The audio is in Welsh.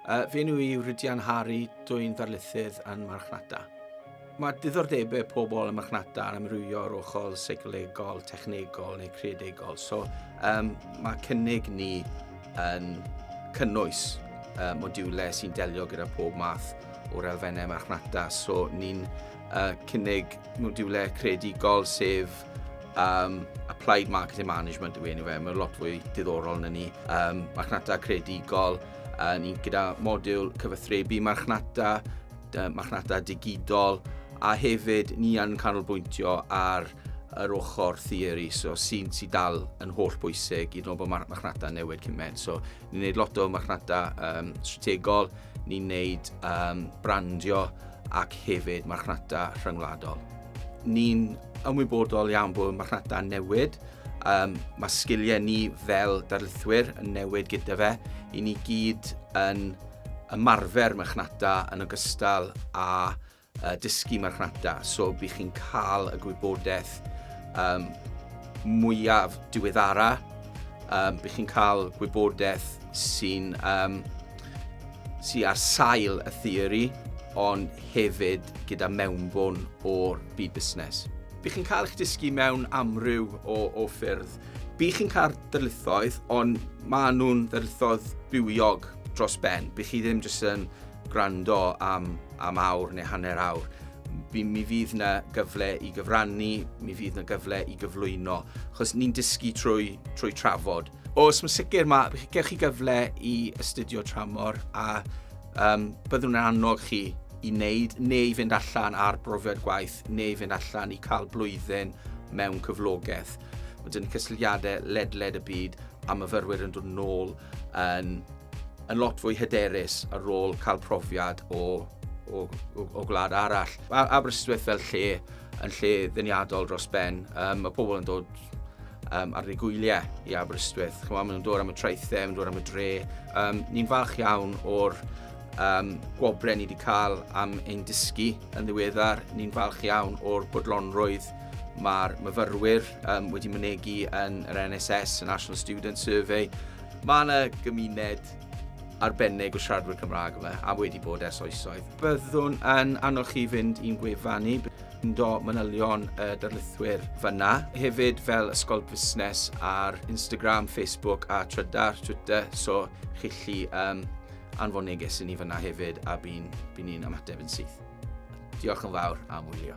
Uh, fy enw i yw Rhydian Hari, dwi'n ddarlithydd yn marchnata. Mae diddordebau pobl yn marchnata yn amrywio o'r ochr seicolegol, technegol neu creadegol. So, um, mae cynnig ni yn cynnwys uh, modiwlau sy'n delio gyda pob math o'r elfennau marchnata. So, ni'n uh, cynnig modiwlau creadigol sef Um, applied Marketing Management yw enw fe, mae'n lot fwy diddorol na ni. Um, marchnata credigol, uh, ni'n gyda modiwl cyfathrebu marchnata, uh, marchnata digidol, a hefyd ni yn canolbwyntio ar yr ochr theori, so sy'n sy dal yn holl bwysig i ddod bod marchnata newid cymaint. So, ni'n gwneud lot o marchnata um, strategol, ni'n gwneud um, brandio ac hefyd marchnata rhyngwladol. Ni'n ymwybodol iawn bod y marchnata yn newid, um, mae sgiliau ni fel darlithwyr yn newid gyda fe, i ni gyd yn ymarfer marchnata yn ogystal â uh, dysgu marchnata, so bydd chi'n cael y gwybodaeth um, mwyaf diweddara, um, bydd chi'n cael gwybodaeth sy'n um, sy ar sail y theori, ond hefyd gyda mewnbwn o'r byd busnes. Bych chi'n cael eich dysgu mewn amryw o, o ffyrdd. Bych chi'n cael darlithoedd, ond maen nhw'n darlithoedd bywiog dros ben. Bych chi ddim jyst yn gwrando am, am awr neu hanner awr. Mi fydd yna gyfle i gyfrannu, mi fydd yna gyfle i gyflwyno, achos ni'n dysgu trwy, trwy trafod. Os mae'n sicr, mae, gewch chi gyfle i astudio tramor a um, byddwn yn annog chi i wneud neu i fynd allan ar brofiad gwaith neu i fynd allan i cael blwyddyn mewn cyflogaeth. Mae dyn cysylltiadau ledled y byd a myfyrwyr yn dod nôl yn, yn lot fwy hyderus ar ôl cael profiad o, o, o, o gwlad arall. Aberystwyth fel lle yn lle ddeniadol dros ben. Um, mae pobl yn dod um, ar ei gwyliau i Aberystwyth. Chwa, maen nhw'n dod am y traethau, maen nhw'n dod am y dre. Um, ni'n falch iawn o'r um, gwobrau ni wedi cael am ein dysgu yn ddiweddar. Ni'n falch iawn o'r bodlonrwydd mae'r myfyrwyr um, wedi mynegu yn yr NSS, y National Student Survey. Mae yna gymuned arbennig o siaradwyr Cymraeg yma, a wedi bod ers oesoedd. Byddwn yn annog chi fynd i'n gwefan ni, do manylion y darlithwyr fyna. Hefyd fel Ysgol Busnes ar Instagram, Facebook a Trydar, Twitter, so chi lli um, anfon neges i ni fyna hefyd a by'n by ni'n ymateb yn syth. Diolch yn fawr am wylio.